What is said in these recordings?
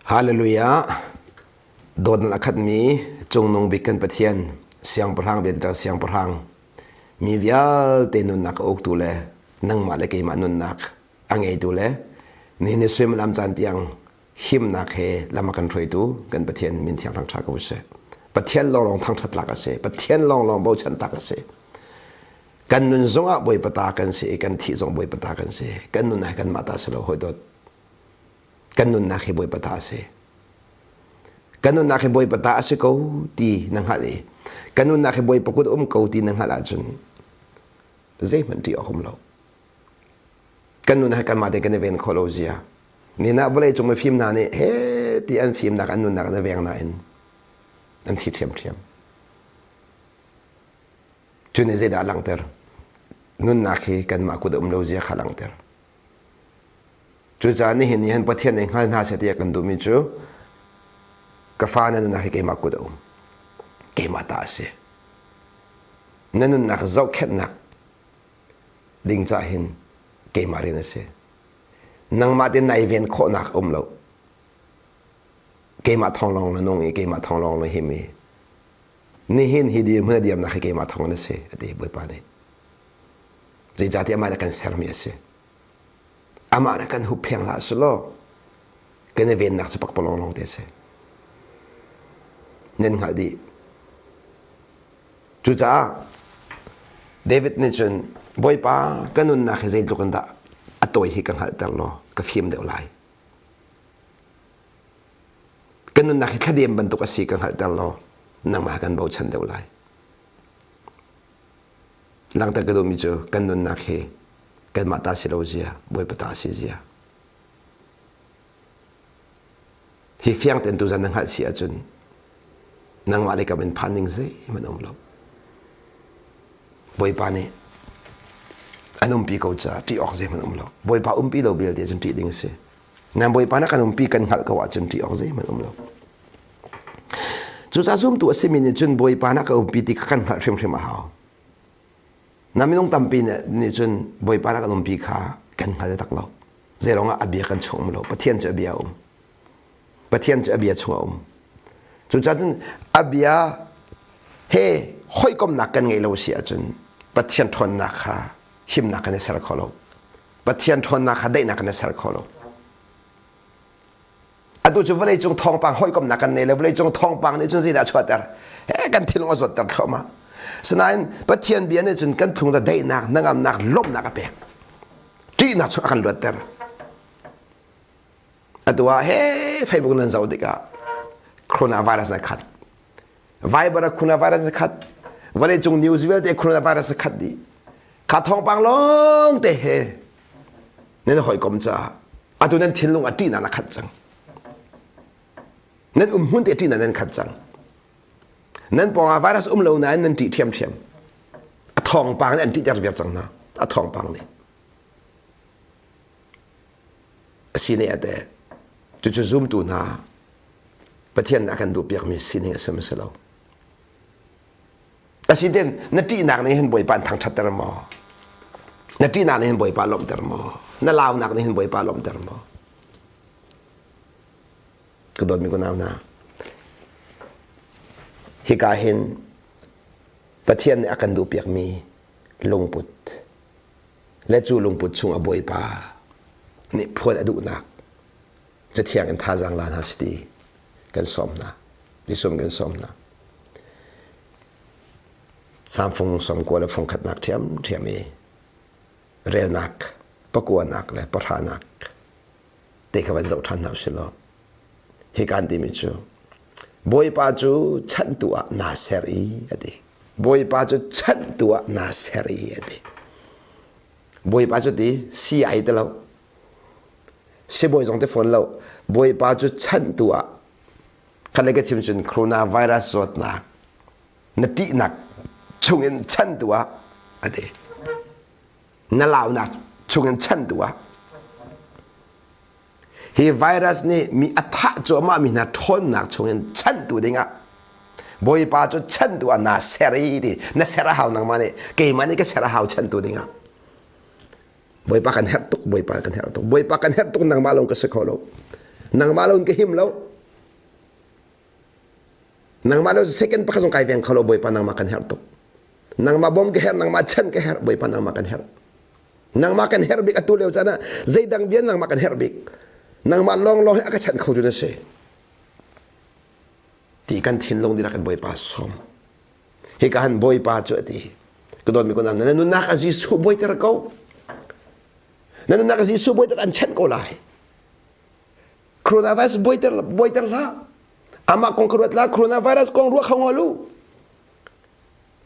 Halleluijah! Dawt nan a khatmi Cungnung Bik kan Pathian, Siangpahrang Vialte Siangpahrang, mi vialte nunnak a uktu le nangmah le keimah nunnak a ngeitu le nihin ni suimilam caan tiang himnak he lam a kan hruaitu kan Pathian min thiang thangṭha ko sih. Pathian lawnglawng thangṭhat tlak a si. Pathian lawnglawng bochan tlak a si. Kan nun zongah Bawipa ta kan si i kan thih zong Bawipa ta kan si. Kan nun ah kanmah ta si lo hoi dawt. kan nunnak hi Bawipa ta a si. Kan nunnak hi Bawipa ta a si ko ti na hngalh i kan nunnak hi Bawipa kut um ko ti na hngalh ahcun zeihmanh ṭih a hum lo. Kan nun hi kanmah te kan i ven khawh lo zia. Ninak vawlei cung mi fim hna nih he ti an fimnak an nunnak an i veng nain an thi ṭhiamṭhiam. Cu nih zeidah a langhter? Nunnak hi kanmah kut a um lo zia kha langhter. Cucaah nihin nih hin Pathian ei hngal hna seh tiah kan duhmi cu ka fa na nunnak hi keimah kut a um. Keimah ta a si. Na nunnak zohkhenhnak ding cah hin keimah rian a si. Nangmah te nai ven khawhnak a um lo. Keimah thawng lawng na nung i keimah thawng lawng na him i nihin hi dir hmun a dirnak hi keimah thawng in a si, a ti Bawipa nih. zeicahtiah amah nih a kan sermi a si amah nih kan huppheng hlah su law kan i vennak cu pakpalawng lawng te a si nan hngalh dih cucaah david nih cun bawipa ka nunnak hi zeitluk in dah a tawi hi ka hngalhter law ka fim deuh lai ka nunnak hi thladem bantuk a si ka hngalhter law nangmah kan bochan deuh lai Langter ka duhmi cu kan nunnak hi kanmah ta si lo zia, Bawipa ta si zia. Hi fiang tein tu zan na hngalh si ahcun nangmah le kam in phan ning zeihmanh um lo. Bawipa nih an umpi ko caah ṭih awk zeihmanh um lo. Bawipa umpi lo vialte cun ṭih ding a si. nan bawipa na kan umpi kan hngalh ko ahcun ṭih awk zeihmanh um lo cucaah zumtu a simi nih cun bawipa na ka umpi ti kha kan hngalh hrimhrim a hau na minung tampi nih cun bawipa na kan umpi kha kan hngal taktak lo zeirongah a bia kan chungum lo pathian cu a bia um pathian cu a bia chung a um cucaah a bia he hawikomnak kan ngei lo si ahcun pathian ṭhawnnak kha himnak kan i ser kho lo Pathian ṭhawnnak kha daihnak in a ser kho lo. Atu cu vawleicung thawngpang hawikomhnak kan nei le vawleicung thawngpang nih cun zeidah a chuahter? He kan thinlung a zawtter thluahmah. Sinain Pathian bia nih cun kan phung le daihnak, hnangamnak, lawmhnak a pek. Ṭihnak chung a kan luatter. Atu ah, he Facebook nan zoh tikah coronavirus nan khat. Viber a coronavirus a khat vawleicung news vialte coronavirus a khat dih kha thawngpang lawng te he nan hawikom caah atu nan thinlung a ṭihna na khat cang nan umhmun te ṭihna nan khat cang nan pawngah virus um lo nain nan ṭih ṭhiamṭhiam a thawngpang nih an ṭihter viar cang hna a thawngpang nih a sining a teh. Cucu zumtu hna Pathian nih a kan duhpiakmi sining a si maw si lo? Asiten na ṭihnak nih hin Bawipa in thangṭhatter maw? Na ṭihnak nih hin Bawipa lawmhter maw? Na launak nih hin Bawipa lawmhter maw? Ka dawtmi kunau hna, hika hin Pathian nih a kan duhpiakmi lungput le cu lungput chung a bawipa nih phuan a duhnak cathiang in thazaang la hna si ti kan sawm hna nisum kan sawm hna samfung sawmkua le fungkhatnak ṭhiam ṭhiam i relnak pakuanak le pahranak te kha van zoh ṭhan hna usih law hi kaan timi cu bawipa cu chanhtu ah naa ser i a ti bawipa cu chanhtu ah naa ser i a ti bawipa cu ti si ai ti lo sibawi zong te fawn lo bawipa cu chanhtu ah khalei ka chim cun coronavirus zawtnak na ṭihnak chungin chanhtu ah a ti na launak chungin chan tu ah hi virus nih mi a thah cuahmah mi hna ṭhawnnak chungin chan tu dingah bawipa cu chan tu ah naa ser i ti na ser a hau nangmah nih keimah nih ka ser a hau chan tu dingah bawipa kan herh tuk bawipa kan herh tuk bawipa kan herh tuk nangmah lawng ka si kho lo nangmah lawng ka him lo Nangmah le second pakhat zong kai veng kho lo Bawipa nangmah kan herh tuk. Nangmah bawm ka herh, nangmah chan ka herh, Bawipa nangmah kan herh. Nangmah kan herh bik atu leo caan ah zeidang vian nangmah kan herh bik. Nangmah long long he aka chanh kho jun asi. Ti kan thinlung dira kan Bawipa som. Hi ka han Bawipa cu ati. Kadon mi kunam na nunak a Jesuh boi ter ko. Na nunak a Jesuh boi ter an chanh ko lai. coronavirus buaiter buaiter hlah amah kong ka ruat la coronavirus kong ruah kho lu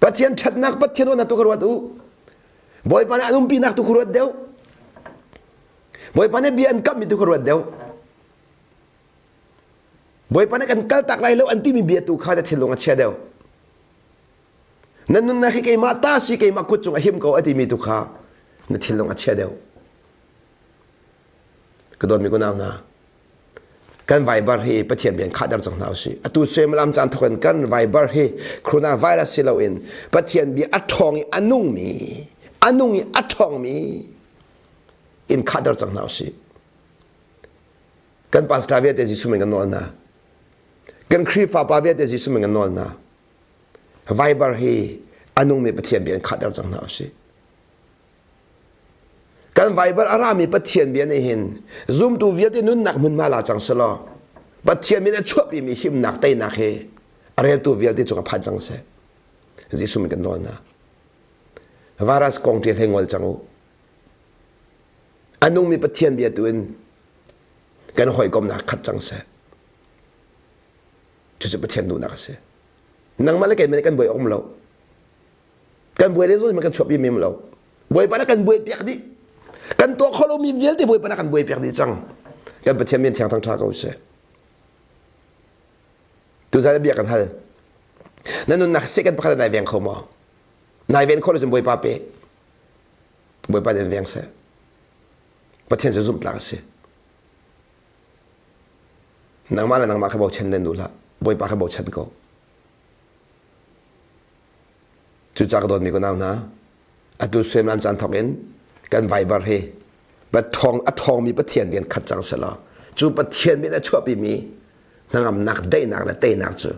pathian thatnak pathian ona tu ka ruat u bawipa ne anum pi nak tu ka ruat deu bawipa ne bia an kam mi tu ka ruat deu bawipa ne kan kal tak lai lo an ti mi bia tu kha da thilong a chia deu nan nun na khi keima ta si keima kut chung a him ko ati mi tu kha na thilong a chia deu ka dawtmi kunau hna kan vaibar hi pathian bia in khahter cang hna usih atu suaimalam caan thawk in kan vaibar hi coronavirus si loin pathian bia a ṭhawng i a nungmi a nung i a ṭhawngmi in khahter cang hna usih kan pastor vialte Jesuh min kan nawl hna kan Khrihfa pa vialte Jesuh min kan nawl hna vaibar hi a nungmi pathian bia in khahter cang hna usih Kan Baibal a rami Pathian bia nih hin zumtu vialte nunnak hmunhma la cang selaw Pathian min a chuahpimi himnak teinak hi a reltu vialte cung a phan cang seh. Jesuh min kan nawl hna. Varas kong ṭi hlei ngol cang u. A nungmi Pathian bia tu in kan hawikomnak khat cang seh. Cucu Pathian duhnak a si. Nangmah le keiman kan buai awm lo. kan buai le zo ma kan chuap i mem lo bawipa na kan buai piak dih kan tuah kho lo mi vialte bawipa na kan buai piak dih cang kan pathian min thiang thang tha ko sih tu zai bia kan hal na nun nak se kan pakhat nai veng kho mo nai ven kho lo bawipa pe bawipa nen veng se pathian se zum tlang si nangma le nangma kha bo chen len u la bawipa kha bo chen ko Cuca ka dawtmi kunau hna, atu suaiman caan thawk in kan Viber hi a ṭhawngmi Pathian bia in khat cang selaw cu Pathian min a chuahpimi hnangamnak, daihnak le teinak cu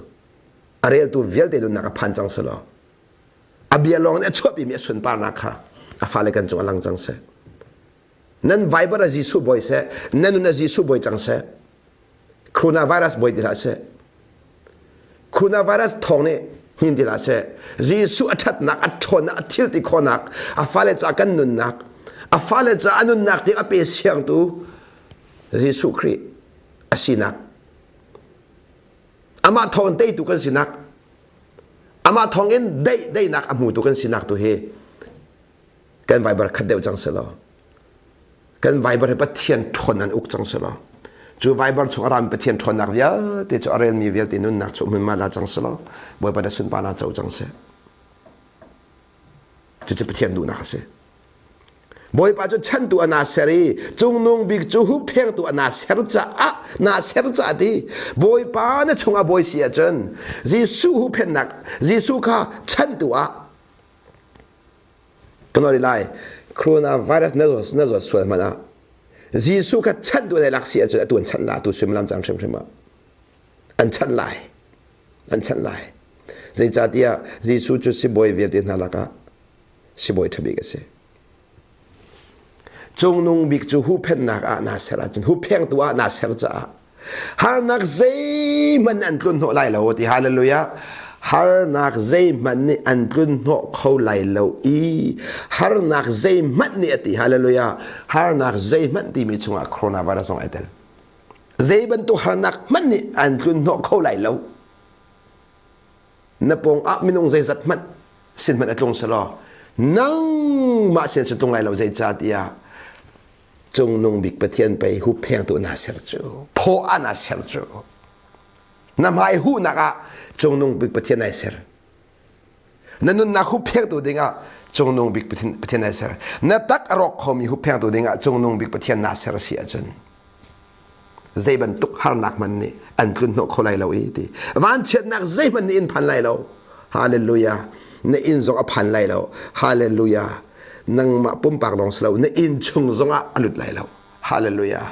a reltu vialte nunnak a phan cang selaw a bia lawng in a chuahpimi a sunparnak kha a fale kan cung a lang cang seh. nan viber a Jesuh boi seh nan nun a Jesuh boi cang seh coronavirus boi dila seh coronavirus thong nih hnin dila seh Jesuh a thatnak a ṭhawnnak a thil ti khonak a fale ca kan nunnak a fale ca a nunnak ti a pe siangtu Jesuh Khrih a sinak amah thawng teitu kan sinak amah thawng in dei deinak a hmutu kan sinak tu hi kan viber khat deuh cang selaw kan viber hi pathian ṭhawn an uk cang selaw cu viber chung a rami pathian ṭhawnnak vialte cu a relmi vialte nunnak cu hmunma la cang selaw bawipa na sunpa na co cang seh cucu pathian duhnak a si bawipa cu chantu ana ser i cungnung bik cu hupphengtu ana ser caah na ser caah ti bawipa na chungah bawi si ahcun jesuh huphennak jesuh kha chantu ah Ka ngari lai, coronavirus na zawt sual hmanh ah Jesuh kha chanh duh lai lak si ahcun atu an chanh lai, atu suimilam cang hrimhrim ah an chanh lai, an chanh lai. Zeicahtiah Jesuh cu sibawi vialte hna lakah sibawi ṭha bik a si. Cungnung bik cu huhphenhnak ah naa ser ahcun, huphengtu ah naa ser caah harnak zeihmanh an tlun hnawh lai lo ti hallelujah harnak zeihmanh nih an tlun hnawh kho lai lo i harnak zeihmanh nih a ti hallelujah harnak zeihmanh timi chungah coronavirus zong ai tel zei bantuk harnak hmanh nih an tlun hnawh kho lai lo na pong ah minung zeizat hmanh sin hmanh a tlung selaw nangmah sin si tlung lai lo zei ca tiah Cungnung bik Pathian pei huphengtu na ser cu phaw an na ser cu na hmai huhnak ah cungnung bik Pathian ai ser na nunnak huphengtu dingah cungnung bik Pathian ai ser na tak a rawk khomi huphengtu dingah cungnung bik Pathian na ser a si ahcun zei bantuk harnak hmanh nih an tlun hnawh kho lai lo i ti vanchiatnak zeihmanh nih in phan lai lo hallelujah na inn zong a phan lai lo hallelujah nangmah pumpak lawng si lo na inn chung zongah a lut lai lo hallelujah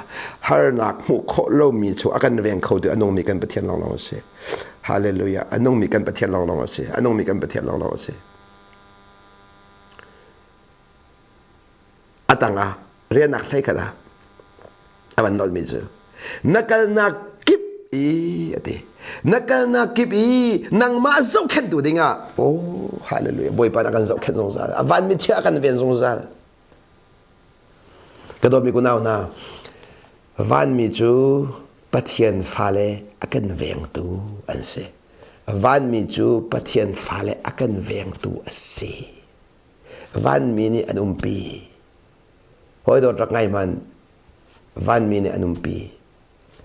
harnak hmuh khawh lomi cu a kan veng kho tu a nungmi kan pathian lawnglawng a si hallelujah a nungmi kan pathian lawnglawng a si a nungmi kan pathian lawnglawng a si a tangah riahnak hleikhat ah a van nolhmi cu na kalnak kip i a ti na kalnak kip i nangmah zohkhenhtu dingah oh hallelujah bawipa na kan zohkhenh zungzal a vanmi thia kan ven zungzal ka dawtmi kunau hna vanmi cu pathian fale a kan vengtu an si vanmi cu pathian fale a kan vengtu a si vanmi nih an umpi hawidawt rak ngai man vanmi nih an umpi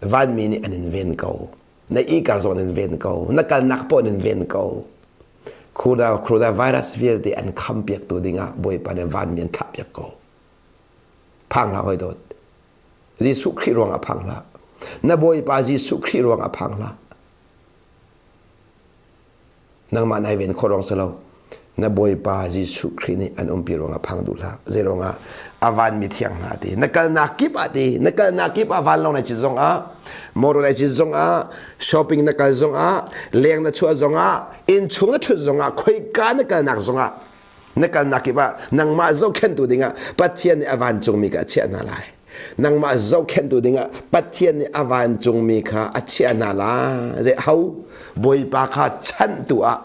vanmi nih an in ven ko na ikar zawn in ven ko na kalnak pawn in ven ko corona corona virus vialte an kham piak tu dingah bawipa nih vanmi an thlah piak ko phang hla hawidawt jesuh khrih ruang a phang hla na bawipa jesuh khrih ruang a phang hla nangmah nai ven khawh ruang si lo na bawipa jesuh khrih nih an umpi ruangah phang duh hlah zei ruangah a vanmi thiang hna ti na kalnak kip ah ti na kalnak kip ah van lo na cit zongah motor na cit zongah shopping na kal zongah leng na chuah zongah inn chung na thut zongah khoika na kalnak zongah na kalnak kip ah nangmah zohkhenhtu dingah Pathian nih a vancungmi kha a chiah hna lai nangmah zohkhenhtu dingah Pathian nih a vancungmi kha a chiah hna lai zei hau bawipa kha chanhtu ah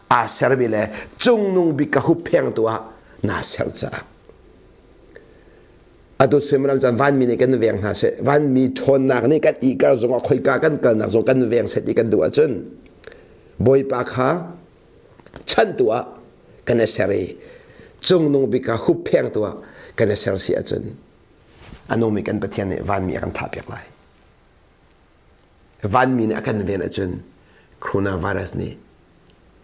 aa sermi le cungnung bik ka hupphengtu ah naa ser caah atu suimilam caan vanmi nih kan veng hna seh vanmi ṭhawnnak nih kan ihkar zongah khoika kan kalnak zong kan veng set i kan duh ahcun bawipa kha chanhtu ah kan i ser i cungnung bik kha hupphengtu ah kan i ser si ahcun a nungmi kan Pathian nih vanmi a kan thlahpiak lai vanmi nih a kan ven ahcun coronavirus nih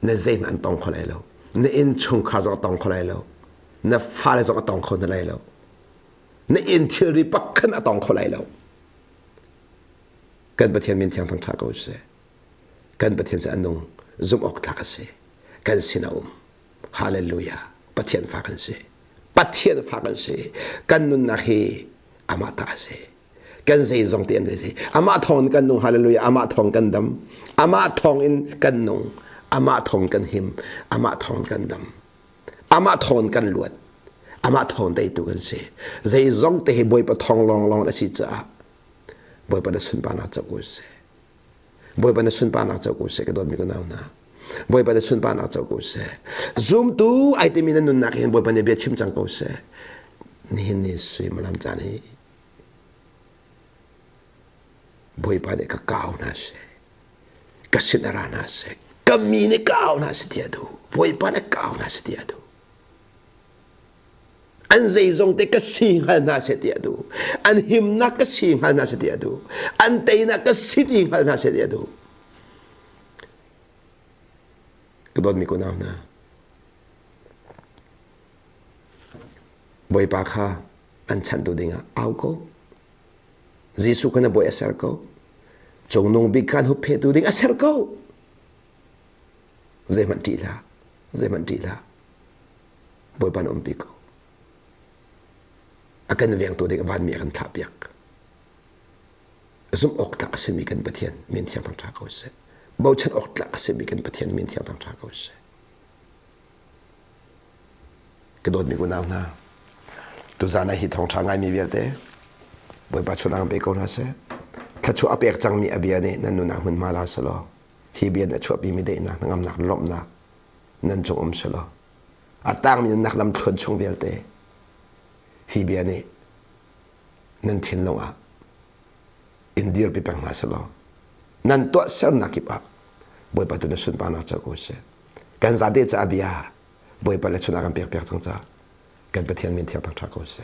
na zeihmanh an tong kho lai lo na inn chungkhar zong a tong kho lai lo na fale zong a tong kho lai lo na inn thilri pakhat a tong kho lai lo kan Pathian min thiang thang ṭha ko sih kan Pathian cu a nung zumh awk tlak a si kan sin a um hallelujah Pathian fa kan si Pathian fa kan si kan nunnak hi amah ta a si kan zeizong te an si amah thawng in kan nung hallelujah amah thawng kan dam amah thawng in kan nung amah thawng kan him amah thawng kan dam amah thawng kan luat amah thawng teitu kan si zeizong te hi bawipa thawng lawnglawng a si caah bawipa na sunparnak co ko sih Bawipa na sunparnak co ko seh ka dawtmi ka nau hna. Bawipa na sunparnak co ko seh. Zumtu ai timi na nunnak hin Bawipa nih bia chim cang ko seh. Nihin ni suimilam caan hi Bawipa nih ka kau hna seh. Ka sin a ra hna seh. Ka mi nih kau hna si tiah duh. Bawipa nih kau hna si tiah duh. an zeizong te ka si hngal hna seh ti a duh an himnak ka si hngal hna seh ti a duh an teinak ka si ti hngal hna seh ti a duh ka dawtmi kunau hna bawipa kha an chantu dingah au ko jesuh kana boi a ser ko cungnung bik kan huphetu ding a ser ko zeihmanh ṭih la zeihmanh ṭih la Bawipa na um pi ko. A kan vengtu ding vanmi a kan thlah piak. Zumh awk tlak a simi kan Pathian min thiang thang tha ko sih. Bochan awk tlak a simi kan Pathian min thiang thang tha ko sih. Ka dawtmi unau hna, tu zan hi thong tha ngai mi vialte, Bawipa chun ang pe ko na se. Thlachu a pek cangmi a bia nih nan nuna hmun ma la salo. Hi bia na chuahpi mi dei na ngam nak lomnak nan cung um si lo. A tangmi nan lam thluan chung vialte hi bia nih nan thinlung ah in dirpi peng hna si law nan tuah sernak kip ah bawipa tu na sunparnak ca ko si kan zate ca bia bawipa le chunah kan pek piak cang ca kan pathian min thiang thang tha ko si